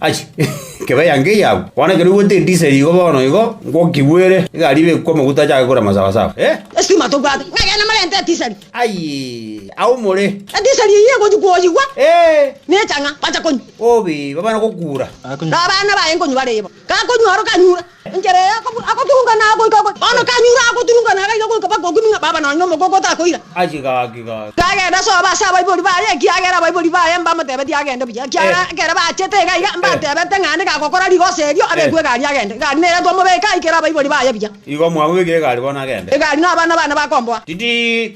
Aye, kebe yango eyagwe. Bono ekero oigwete endise eye igo bono igo, ngokigwere, egari ebekwe amaguta achake korema sawasawa. Eh! Esitima tobwate, ng'a ekeene narente etisari. Aye, ao more. Etisari eyio egochia koyigwa, Eh! nechang'a, bacha konywa. Obe, baba na gokura. Nabana baye nkonywa bare ibo. Gakonywa aro kanyure. Enchera eye agoturungana agoika ogochia. Bono kanyure agoturungana agaiga goika mpaka okimi ng'a baba nonye omogoko otakoira. Gaki, gaki, gaki. Agenda sobo ase abaibori baye, ekiagera abaibori baye mbamotebetie agende buya, ekiagera Eh. ekero bachete iga iga, Eh. mbatebete ng'a nde gagokora rigoso erio, abekwe Eh. egari agende. Egari neye twamobeka aikere abaibori baye buya. Igo mwamobekire egari bono agende. Egari na abana bane bakomboa. Titi!